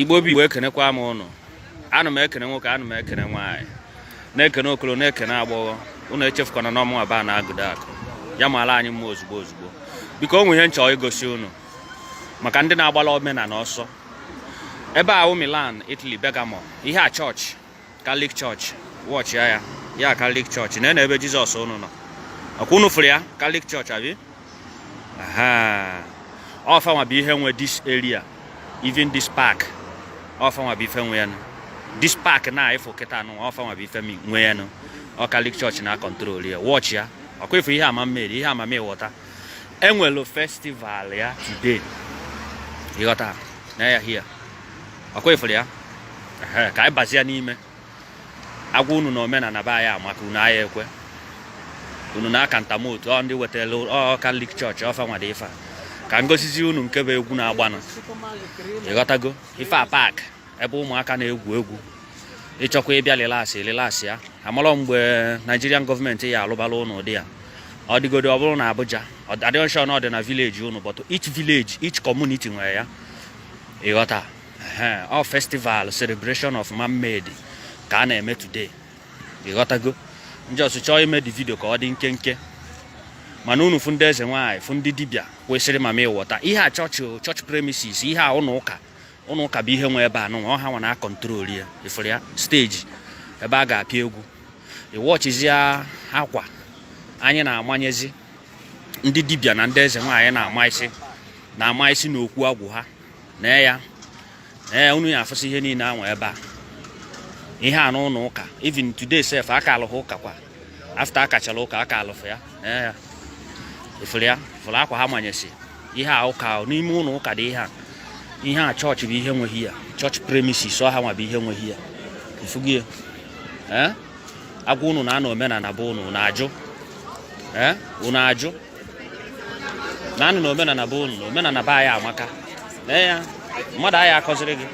igbo bụ igbo ekenekwa m ụnụ ana m ekene nwoke ana m ekene nwaanyị na-ekene okolo na-ekene agbọghọ ụnụ echefukwana na ọ mụnwa ba na agụda akụ ya mara anyị mma ozugbo ozugbo biko o nwe ihe m chọ igosi ụnụ maka ndị na-agbala omenala ọsọ ebe a Milan Italy Bergamo ihe a chọọchị Catholic chọọchị wọchị ya ya Catholic chọọchị na ebe Jizọs unu nọ ọkwa unu fụrụ ya Catholic chọọchị abi ọ fanwa bụ ihe nwe this area even this park ọ fanwa bụ ife nwe ya this park na ị fụ kịta a nụ ọ fanwa bụ ife nwe ya nụ ọ Catholic chọọchị na-akọntrol ya wọchị ya ọkwa ị fụ ihe a mermaid ihe a mamịwọta enwere festival ya today ịghọta na ya hia ọkwa ị fụrụ ya ka anyị bazia n'ime agwa unu na omenala be anyị amaka unu aya ekwe unu na-aka ntamotu ọ ndị wetara ọ katọlik chọọchị ọ fanwa dị ife a ka m gosizi unu nke bụ egwu na-agbanụ ịghọtago ife a paakị ebe ụmụaka na-egwu egwu ị chọkwa ịbịa relax ị relaxịa amarọ mgbe Nigerian gọọmenti ya alụbala ụnụ ụdị ya ọ dịgodo ọ bụrụ na Abuja adịọ sure na ọ dị na vileji ụnụ but each village each community nwere ya ịghọta ọ festival celebration of mermaid ka a na-eme today ịghọtago m just chọọ ime the vidio ka ọ dị nkenke mana unu fụ ndị eze nwaanyị fụ ndị dibịa kwesịrị mamịwọta ihe a chọọchị chọọchị premises ihe a ụlọ ụka ụnọ ụka bụ ihe nwe ebe a nụnwa ọ hanwa na-akọntrol ya ị fụrụ ya steji ebe a ga-apịa egwu ịwọchizie akwa anyị na-amanyezi ndị dibịa na ndị eze nwaanyị na-ama isi na-ama isi na okwu agwụ ha na ya na ya unu ya afụsị ihe niile anwa ebe a ihe a n'ụlọ ụka even today sef a kalụ hia ụka kwa afta a kachara ụka aka alụfụ ya ee ị fụrụ ya fụrụ akwa ha manyesi ihe a ụka n'ime ụlọ ụka dị ihe a ihe a chọọchị bụ ihe nwe hia chọọchị premises ọ hanwa bụ ihe nwe hia ị fugie ee agwa unu na-anọ na omenala be unu unu ajụ ee unu ajụ na-anọ na omenala be unu omenala be anyị amaka lee ya mmadụ aya akọziri gị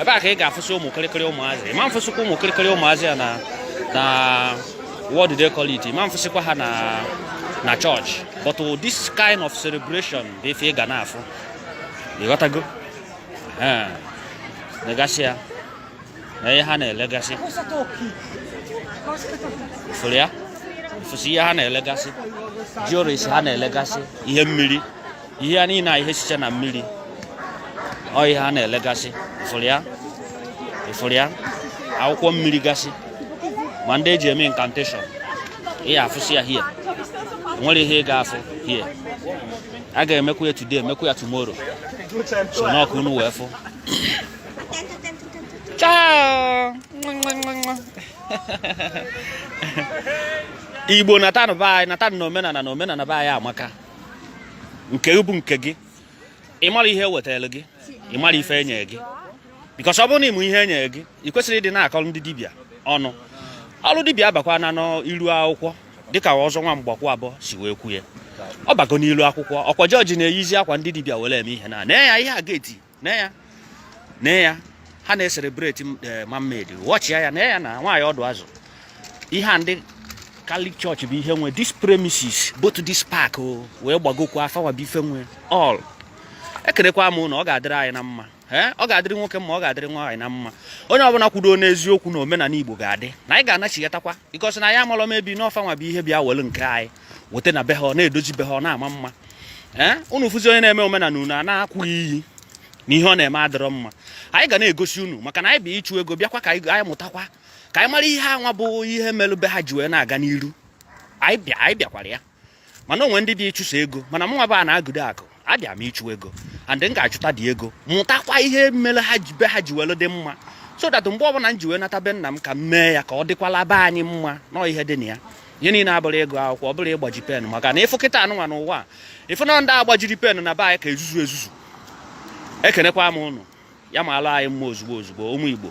ebe a ka ị ga-afụsị ụmụ kịrịkịrị ụmụazị ị ma afụsịkwa ụmụ kịrịkịrị ụmụazị ya na na what do they call it ị ma afụsịkwa ha na na chọọchị but this kind of celebration bụ ife ị ga na-afụ ịghọtago negasị ya na ihe ha na-elegasị ị fụrụ ya ị fụsị ihe ha na-elegasị jewelries ha na-elegasị ihe mmiri ihe a niile a ihe sicha na mmiri ọ ihe ha na-elegasị ị fụrụ ya ị fụrụ ya akwụkwọ mmiri gasị ma ndị eji eme incantation ị ya-afụsị ya here nwere ihe ị ga-afụ here a ga-emekwa ya today emekwa ya tomorrow so na ọ ka unu wee fụ Ciao! Igbo natanụ be anyị natanụ na omenala na omenala be anyị amaka nke bụ nke gị ị marọ ihe ewetara gị ị marọ ife enye gị because ọ bụrụ na ị ma ihe enye gị ị kwesịrọ ịdị na-akọrọ ndị dibịa ọnụ ọrụ dibịa abakwana n'iru akwụkwọ dịka ọzọ nwa mgbakwu abụọ si wee kwuo ya ọ bago n'iru akwụkwọ ọkwa church na-eyizi akwa ndị dibịa were eme ihe na na ya ihe a ga-eti na ya na ya ha na-ecelebrate eh, mermaid watchịa ya na ya na nwaanyị ọdụ azụ ihe a ndị Catholic Church bụ ihe nwe this premises both this park o oh, wee gbagokwa ọ fanwa bụ ife nwe all ekenekwa m na ọ ga-adịrị anyị na mma eh, ọ ga-adịrị nwoke mma ọ ga-adịrị nwaanyị na mma onye ọbụla kwudo n'eziokwu na omenala Igbo ga-adị na anyị ga-anachigatakwa because na anyị amalọ mbụ na ọ fanwa bụ ihe bịa welu nke anyị wete na be ha ọ na-edozi be ha ọ na-ama mma ee unu fụzi onye na-eme omenala unu a na-akwụ iyi na ihe ọ na-eme adịrọ mma anyị ga na-egosi unu maka na anyị bịa ịchụ ego bịakwa ka anyị mụtakwa ka anyị mara ihe anwa bụ ihe melụ be ha ji wee na-aga n'iru anyị bịakwara ya mana o nwe ndị bịa ịchụ sọ ego mana mụnwa bụ a na-agụdo akụ abịa m ịchụ ego and m ga-achụtadị ego mụtakwa ihe mere ha ji be ha ji welu dị mma so that mgbe ọbụla m ji wee nata be nna m ka m mee ya ka ọ dịkwala be anyị mma na ọ ihe dị na ya ihe niile abụrọ ego akwụkwọ ọ bụrọ ịgbaji pen maka na ị fụ kịta anụnwa n'ụwa ị fụ na ndị gbajiri pen na be anyị ka ezuzu ezuzu ekenekwa m unu ya malụ anyị mma ozugbo ozugbo ụmụ Igbo